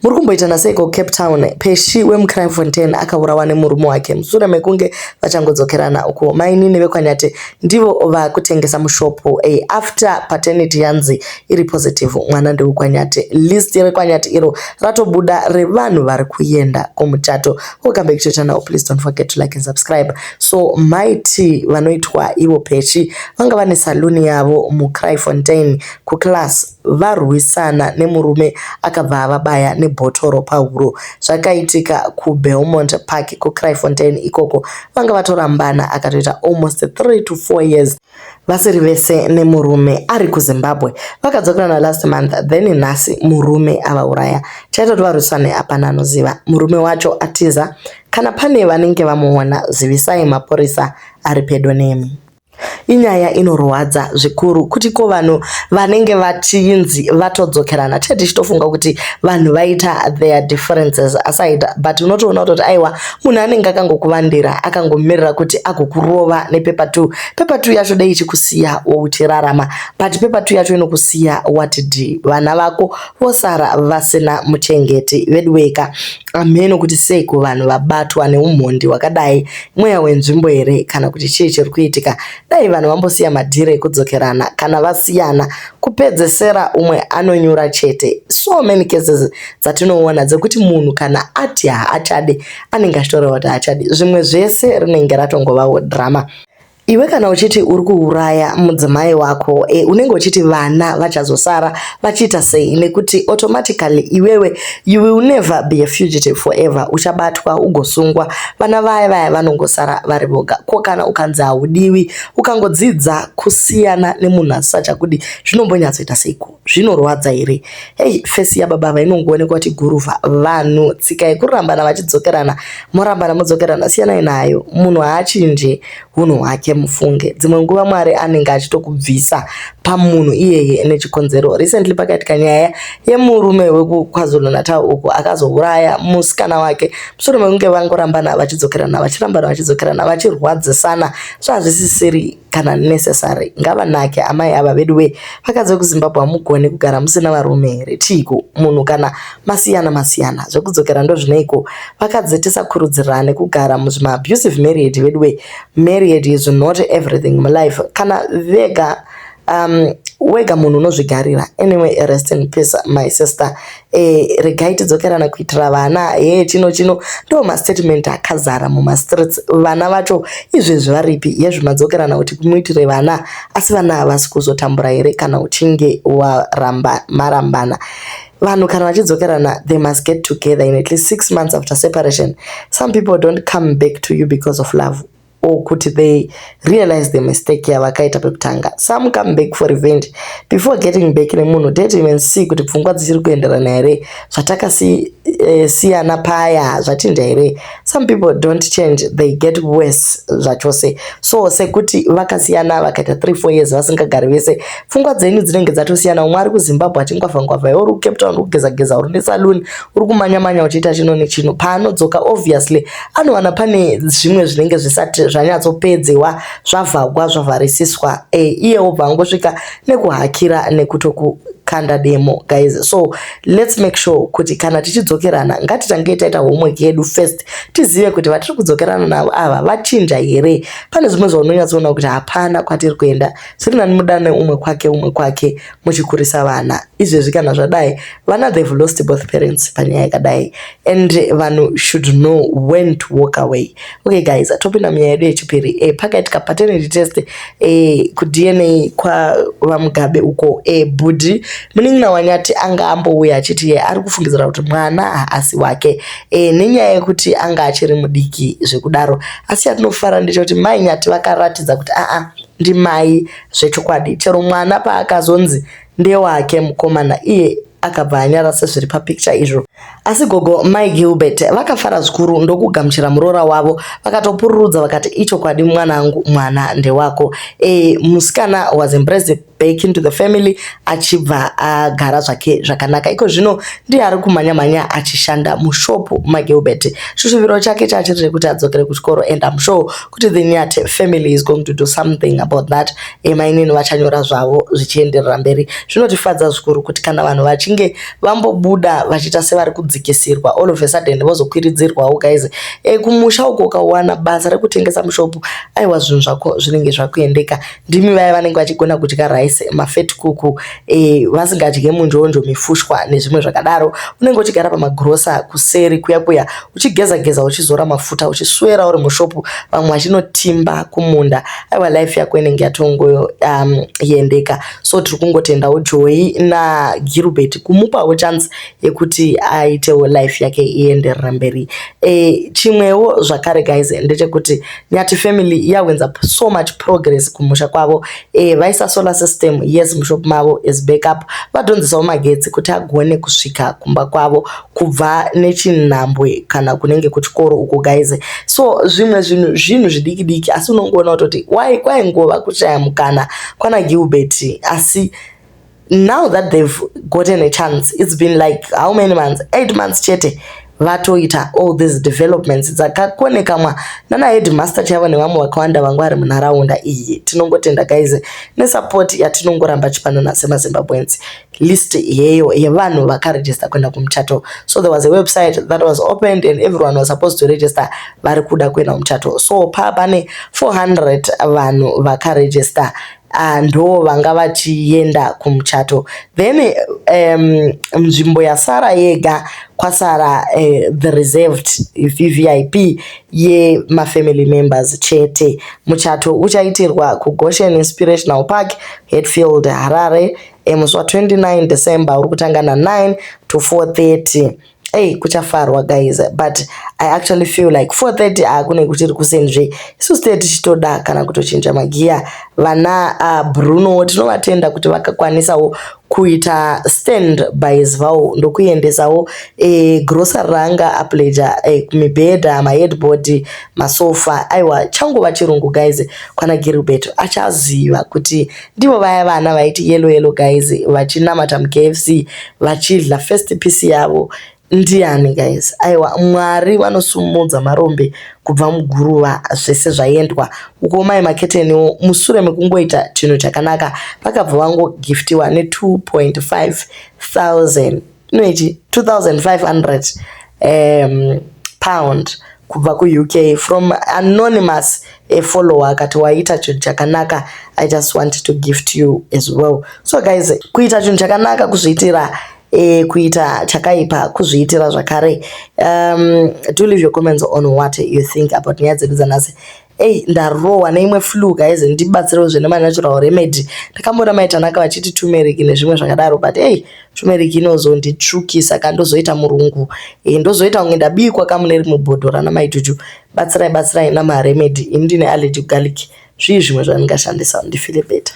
Muri kumboitana seiko Cape Town? Peshy wemuCrimefontein akaurawa nemurume wake mushure mekunge vachangodzokerana uko mainini vekwaNyati ndivo vakutengesa mushopu a after paternity yanzi iri positive mwana ndewekwaNyati. List rekwaNyati iro ratobuda revanhu vari kuenda kumuchato. Welcome back to channel. Please don't forget to like and subscribe. So maiti vanoitwa ivo Peshy vanga vane saluni yavo muCrimefontein kuclass varwisana nemurume akabva avabaya nebhotoro pahuro. Zvakaitika kuBelmont Park kuCryfontein ikoko. Vanga vatorambana akatoita almost 3 to 4 years vasiri vese nemurume ari kuZimbabwe. Vakadzokerana last month then nhasi murume avauraya. Chaitoti varwisane hapana anoziva. Murume wacho atiza. Kana pane vanenge vamuona zivisai mapurisa ari pedo nemi. Inyaya inorwadza zvikuru kuti ko vanhu vanenge vachinzi vatodzokerana tee tichitofunga kuti vanhu vaita their differences aside but unotoona kutoti aiwa munhu anenge akangokuvandira akangomirira kuti agokurova nepepa two pepa two yacho dei ichikusiya wouchirarama but pepa two yacho inokusiya watidi vana vako vosara vasina muchengeti veduweka amheno kuti sei kuvanhu vabatwa neumhondi hwakadai mweya wenzvimbo here kana kuti chii chiri kuitika dai vanhu vambosiya madhiri ekudzokerana kana vasiyana kupedzesera umwe anonyura chete so many cases dzatinoona dzekuti munhu kana ati haachadi anenge achitorewa kuti haachadi zvimwe zvese rinenge ratongovawo drama Iwe kana uchiti uri kuuraya mudzimai wako e, unenge uchiti vana vachazosara vachiita sei nekuti automatically iwewe you will never be a fugitive forever uchabatwa ugosungwa vana vaya vaya vanongosara vari voga ko kana ukanzi haudiwi ukangodzidza kusiyana nemunhu asisachakudi zvinombonyatsoita seiko zvinorwadza here hey, fesi yababa ava inongoonekwa kuti guruva vanhu tsika yekurambana vachidzokerana morambana modzokerana siyanai nayo munhu haachinje hunhu hwake mufunge dzimwe nguva mwari anenge achitokubvisa pamunhu iyeye nechikonzero recently pakaitika nyaya yemurume wekukwazulu natal uku akazouraya musikana wake mushure mekunge vangorambana vachidzokerana vachirambana vachidzokerana vachirwadzisana so hazvisisiri kana necessary ngavanake amai ava vedu wee vakadzi vekuzimbabwe hamugone kugara musina varume here chiiko munhu kana masiyana masiyana zvekudzokera ndozvineiko vakadzi tisakurudzirane kugara muzvimaabusive married vedu wee married is not everything mulife kana vega um, wega munhu unozvigarira anyway rest in peace my sister eh, regai tidzokerana kuitira vana he eh, chino chino ndo mastatement akazara mumastreets vana vacho izvezvi varipi yezvi madzokerana kuti kumuitire vana asi vana havasi kuzotambura here kana uchinge waramba marambana vanhu kana vachidzokerana they must get together in at least six months after separation some people don't come back to you because of love or kuti they realize the mistake yavakaita pekutanga some come back for revenge before getting back nemunhu date even see kuti pfungwa dzisiri kuenderana here zvatakasiyana eh, paya zvachinja here some people don't change they get worse zvachose so sekuti vakasiyana vakaita 3 4 years vasingagari vese pfungwa dzenyu dzinenge dzatosiyana umwe ari kuzimbabwe achingwavhangwavha iwe uri kucape town uri kugezageza uri nesaloon uri kumanyamanya uchiita chino nechino paanodzoka obviously anowana pane zvimwe zvinenge zvisati zvanyatsopedzewa zvavhagwa zvavharisiswa e, iye obva angosvika nekuhakira nekutoku kanda demo guys so let's make sure kuti kana tichidzokerana ngatitange taita homework yedu first tizive kuti vatiri kudzokerana navo ava vachinja here pane zvimwe zvaunonyatsoona kuti hapana kwatiri kuenda zviri nani mudane umwe kwake umwe kwake muchikurisa vana izvezvi kana zvadai vana they've lost both parents panyaya yakadai and vanhu should know when to walk away okay guys atopinda munyaya yedu yechipiri e, pakaitika paternity test e, kudna kwavamugabe uko e, bhudhi munin'ina wanyati anga ambouya achiti ye ari kufungidzira kuti mwana haasi wake e, nenyaya yekuti anga achiri mudiki zvekudaro asi yatinofara ndechekuti mai nyati vakaratidza kuti aa ndimai Zvechokwadi chero mwana paakazonzi ndewake mukomana iye akabva anyara sezviri papikicha izvo. Asi gogo Mai Gilbert vakafara zvikuru ndokugamuchira muroora wavo vakatopururudza vakati ichokwadi mwanangu mwana ndewako. E, musikana was embraced back into the family achibva agara zvake zvakanaka. Iko zvino ndiye ari kumhanya mhanya achishanda mushopu Mai Gilbert. Chushuviro chake chachiri chekuti adzokere kuchikoro and I'm sure kuti the Nyati family is going to do something about that eh, mainini vachanyora zvavo zvichienderera mberi zvinotifadza zvikuru kuti kana vanhu vachinge vambobuda vachiita sevari kudzikisirwa all of a sudden vozokwiridzirwawo guys eh, kumusha uko ukawana basa rekutengesa mushopu aiwa zvinhu zvako zvinenge zvakuendeka ndimi vaya vanenge vachigona kudya rice mafet kuku e, vasingadye munjonjo mifushwa nezvimwe zvakadaro unenge uchigara pamagrosa kuseri kuya kuya uchigeza geza uchizora mafuta uchiswera uri mushopu vamwe vachinotimba kumunda aiwa life yako inenge yatongoyendeka um, so tiri kungotendawo joyi nagirubert kumupawo chance yekuti aitewo life yake ienderera mberi e, chimwewo zvakare guys ndechekuti Nyati family yahwenza so much progress kumusha kwavo eh, vaisa solar system yes mushop mavo as backup vadhonzesawo magetsi kuti agone kusvika kumba kwavo kubva nechinhambwe kana kunenge kuchikoro uko guys so zvimwe zvinhu zvinhu zvidiki diki asi unongoona kutoti why kwaingova kushaya mukana kwana Gilbert asi now that they've gotten a chance it's been like how many months eight months chete vatoita all these developments dzakakonekamwa nana headmaster chaivo nevamwe vakawanda vanga vari munharaunda iyi tinongotenda guys nesupport yatinongoramba chipanana semazimbabweans list iyeyo yevanhu vakaregister kuenda kumuchato so there was a website that was opened and everyone was supposed to register vari kuda kuenda kumuchato so paa pane 400 vanhu vakaregister uh, ndo vanga vachienda kumuchato then um, nzvimbo yasara yega kwasara uh, the reserved vvip yemafamily members chete muchato uchaitirwa kugoshen inspirational park hetfield harare eh, musi wa 29 december uri kutanga na9 to 430 Hey, kuchafarwa guys but i actually feel like 430 akune ah, kuti ri kuseni zve isu state tichitoda kana kutochinja magiya vana uh, bruno tinovatenda kuti vakakwanisawo kuita stand bys vavo ndokuendesawo e, eh, grocery ranga apleja e, eh, mibhedha maheadboard masofa aiwa changova chirungu guys kwana gilbert achaziva kuti ndivo vaya vana vaiti yellow yellow guys vachinamata mukfc vachidla first piece yavo ndiani guys aiwa mwari vanosumudza marombe kubva muguruva zvese zvaendwa uko mai maketeniwo musure mekungoita chinhu chakanaka vakabva vangogiftiwa ne 2.5 thousand inoiti 2500 um, pound kubva kuuk from anonymous a follower akati waita chinhu chakanaka i just want to gift you as well so guys kuita chinhu chakanaka kuzviitira E, kuita chakaipa kuzviitira zvakare um, do leave your comments on what you think about nyaya dzedu dzanhasi Ei ndarohwa neimwe flu guys ndibatsirewo zvene manatural remedy ndakamboona mai Tanaka vachiti turmeric nezvimwe zvakadaro but ei turmeric inozonditsvukisa ka ndozoita murungu e, ndozoita kunge ndabikwa ka mune rimwe bhodho rana mai Juju batsirai batsirai nama remedy ini ndine allergy garlic zvii zvimwe zvandingashandisa ndifile better